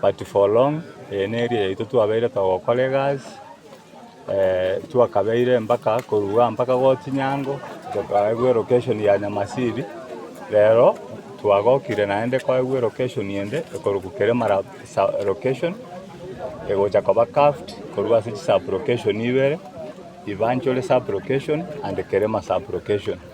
But for long eye neria yaito twabeire togokora egasi twakabeire mpaka koruga mpaka gotinyango tokaegwa elocation ya Nyamasiri rero twagokire naende koegwa elocation ende ekorokwa Kirima location egocha koba calved korwa ase chisub location ibere Ibanchuri sub location and Kirima sub location.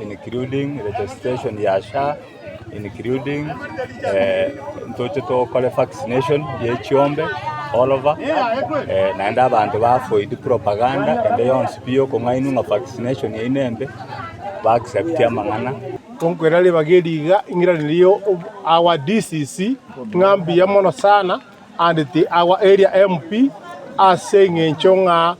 including registration ya SHA, including eh, ntoche tokore vaccination ye chiombe all over eh, naende abanto bafoidi propaganda ende yonsi pi yokong'aini ng'a vaccination yaino embe ba accept amang'ana Tonkwera riba geriga ing'iranirio of our DCC ng'a mbuya mono sana and the our area MP ase eng'encho ng'a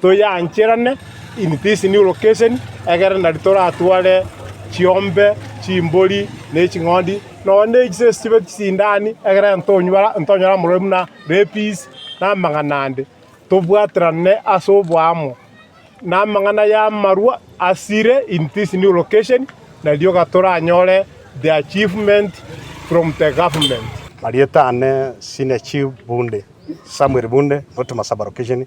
Toyancherane in this new location egere nari toratware chiombe, chimbori, ne ching'ondi, nonya ne echise echibe chisindani, egere ntonywara ntonyare omorweri buna rapies, na amang'ana ande. Tobwaterane ase oboamo. Na amang'ana y'amarwa asire in this new location, na rioka toranyore the achievement from the government. Marieta ane Senior Chief Bunde, Samuel Bunde, Rotuma Sub-Location,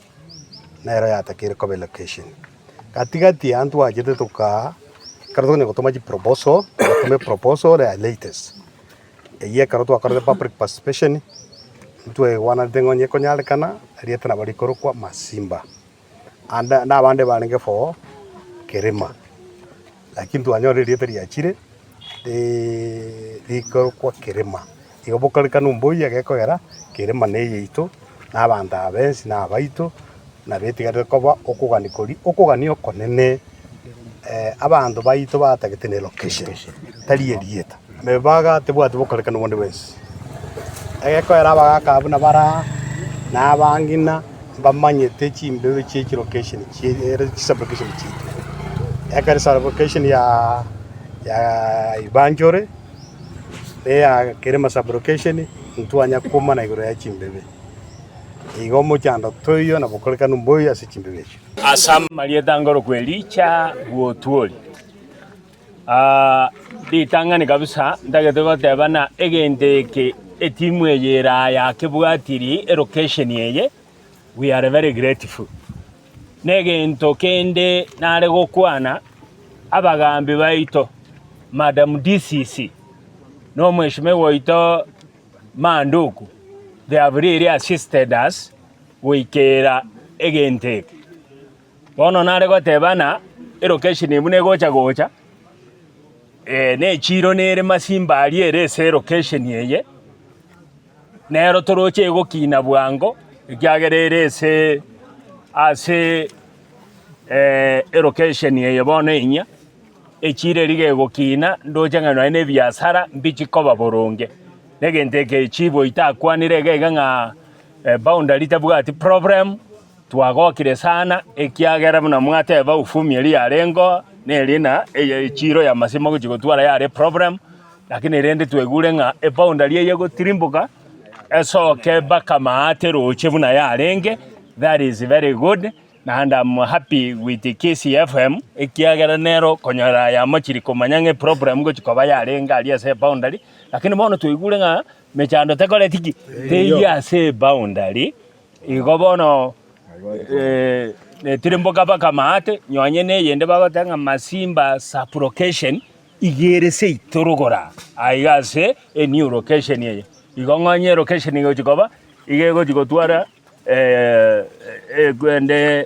nero yatakeire koba elocation. Gati-gati aa ntwachete tokaa, ekero tokonya gotoma chiproposal, twatoma eproposal ya latest. Eyio ekero twakorete public participation, ntwaigwanete ng'a onye ekonyarekana, erieta nabo rikorokwa Masimba. Ande, na abande barenge for Kerema. Naki ntwanyora erieta riachire rikorokwa Kerema, igo bokorikana omboyia gekogera Kerema neyeito, na abanto aba ensi nabaito, na betigarete koba okogania koria okogania okonene, abanto baito batagete ne location, tari erieta. Nebaga tebwati bokorekana obonde bwensi, egekoera abagaaka buna bare aa, na abang'ina mbamanyete chimberu chie chilokesheni chiaito, ekero esalokesheni ya Ibanchore na eya Kerema sablokesheni ntwanya koomana igoro ya chimbebe. Igo omochando toiyo na bokorekanu mboiyo ase chimbebe echio. Ase amarieta ngoroku Elija bw'Otuoli. Ritang'ani kabisa, ntagete goteba ng'a egento eke etimu eye ere aya kebwatiri elocation eye, we are very grateful. Na egento kende nare gokwana, abagaambi baito, Madam DCC, na omweshimiwa oito Manduku, they have really assisted us goikera egento eke. Bono nare goteba ng'a elocation eye buna egocha gocha, na echiiro nere masimba aria ere ase elocation eye, nero toroche egokina bwango ekiagera ere ase ase elocation eye bono enyia, echiiro eria gegokina ndoche ng'a nonye na ebiasara mbichi koba boronge. Na egento eke chibo itakwanire iga iga ng'a boundary tabwati problem. Twagokire sana, ekiagera buna mwateba ufumi eria yareng'o neria na eye echiiro y'amasimo gochia gotwara yare eproblem, lakini rende twaigure ng'a eboundary eye egotirimboka esoke mpaka maate roche buna yarenge, that is very good and am happy with Kisii FM ekiagera nero konya yamochiri komanya ng'a eproblem gochia koba yarenge aria ase eboundary, lakini bono twaigure ng'a mechando tekoreti ki? Teiyo ase eboundary. Igo bono netirimboka baka amaate, nonye neyende bagoteba ng'a Masimba sub-location igere seito rogoro aa, aa iga ase enew location eye. Igo ng'onye elocation egochi koba, iga egochi gotwara eeh eeh korende.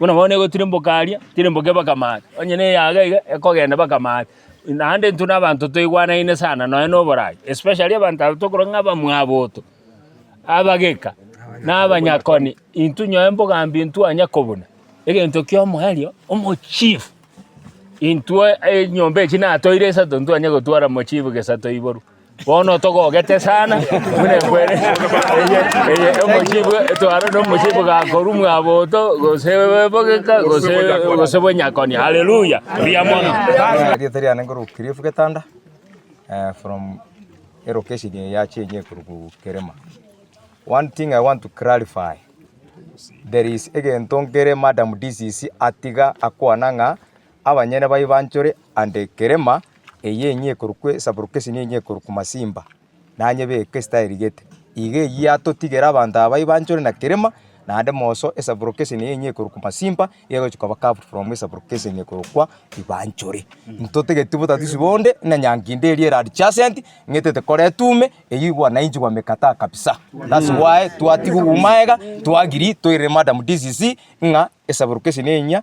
Buna bono negotirimboka aria, tirimboka ebakame aa, onye na eyaga iga ekogenda ebakame aa. Naende intwe na abanto toigwanaine sana nonye na oborai, especially abanto aba tokorwa ng'a abamwaboto, abageka, na abanyakoni, intwe onye embogambi ntwanya kobuna egento kia omoerio, omochief. Intwe enyomba echi natoire isato ntwanye gotwara mochief gesato iboru. Bono togogete sana, buna ekwene eye eye omosibwa etwarwa nomosibwa gakorwa mwaboto gose bogeka gose gose bonyakoni. Haleluya! Mbuya mono. Erieta riane nkorokwa Cliff Getanda eh, from elocation eye ya Chenye ekorokwa Kerema. One thing I want to clarify, there is egento nkere Madam DCC atiga akwana ng'a abanyene baye banchore ande ekerema eye enyia ekorokwa esaburukesi na enyia ekorokwa masimba, nanyebeke esitaerigete. Iga eyio yatotigera abanto aba baye banchore na kerema, naende moreso esaburukesi eye enyia ekorokwa masimba, iga egochia koba carved from esaburukesi enyia ekorokwa ribanchore. Ntotageti botatisi bonde, buna enyangi ende eria ere adjacent, ng'a etaete kore etume, eyio igwo wananchi bamekataa kabisa. That's why twatiga obumaega, to agree toirire madam DCC ng'a esaburukesi eye enyia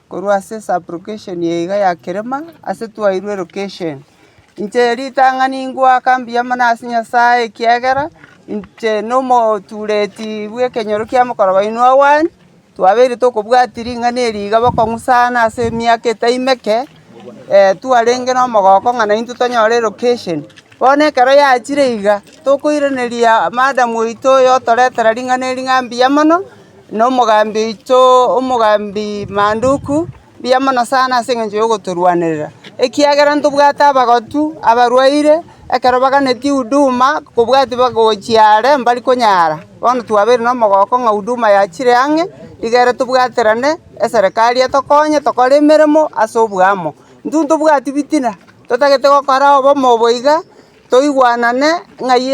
korwa ase sublocation ya iga ya kerema ase twairwe location. Inche ritang'ani ngoaka mbuya mono ase Nyasae ekiagera inche na omotureti bw'ekenyoro kia mokoro oino Owen, twabeire tokobwatia ring'ana eri iga bokong'u sana ase emiaka etai meke, twarenge na omogoko ng'a naintwe tonyore location. Bono ekero yachire iga, tokoiraneria madam oito oyo otoretera ring'ana eri ng'a mbuya mono, Nomogambi oito, omogambi manduku, mbuya mono sana ase engencho yogotorwanerera, ekiagera ntobwate abagotu, abarwaire, ekero baganetie huduma, kobwati bagochia are mbari konyara. Bono twabeire nomogooko ng'a huduma yachire ang'e, nigo ere tobwaterane, eserekari etokonye tokore emeremo ase oboamo. Intwe ntobwati bitina, totagete gokora obomo obo iga. Toigwanane ng'ai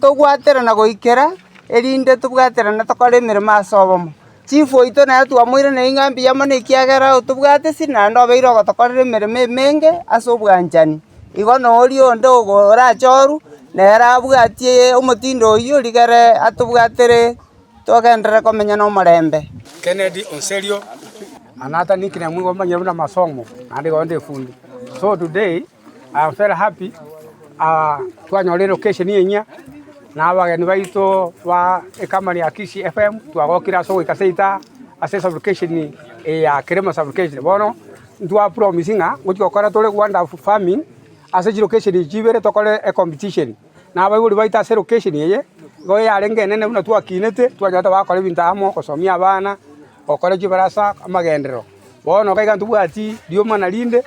togwaterana goikera, erinde tobwaterane tokore emeremo ase obomo. Chief oito nere twamoiraneria ng'a mbuya mono ekiagera otobwate esiri naende obeire ogotokorera emeremo emenge ase obwanchani. Igo na oria onde ogo orache orwu, nere abwatie omotindo oyio rigere atobwatere togenderere komenya nomorembe. Kennedy Oserio, Manhattan, Kenya, Mwigwa Omonyene buna Masomo naende Igoonda Efundi. So today. I'm very happy ah, twanyorire location enyia na abageni baito ba ecompany ya Kisii FM twagokire ase ogoika seita ase sublocation eye ya Kerema sublocation bono ntwapromise ng'a ngochi gokora tore wonderful farming ase chilocation echi chibere tokore ecompetition na abaibori baito ase location eye igo yarenge enene buna twakinete twanyora togakora ebinto amo ogosomia abana gokora chibarasa amagenderero bono iga iga ntobwati rioma na rinde.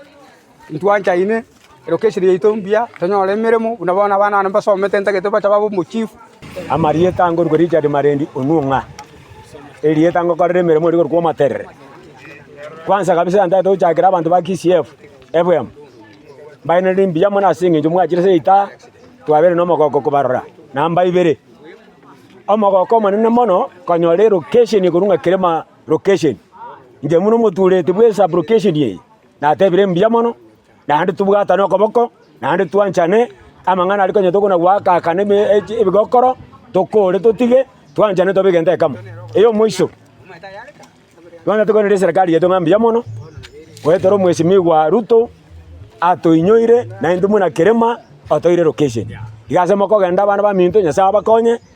Intwanchaine, erio kechire yaito mbuya, tonyore emeremo, buna bono abana bane mbasomete ntagete bache babe omochifu. Amarieta angorwe Richard Marendi Onwuo ng'a erieta ngokorera emeremo eria korokwo Omoterere. Kwanza kabisa yantagete gochakera abanto ba KCF Ebwemo, mbaenire mbuya mono ase eng'encho mwachire ase eitaha twabeire na omogoko kobarora namba ibere. Omogoko omonene mono konyora elokesheni ekorwa ng'a Kerema lokesheni, inche buna omotureti bwe esub lokesheni eye. Natebire mbuya mono, naende tobwatane okoboko, naende twanchane, amang'ana aria konya tokona goakakana ebigokoro, tokore totige, twanchane tobe egento ekemo. Eyomoiso, bono tokoirera eserekari yaito ng'a mbuya mono, goetera omwesimigwa Ruto atoinyoire, naintwe buna kerima, otoire location. Iga ase mokogenda abana baminto Nyasaye abakonye,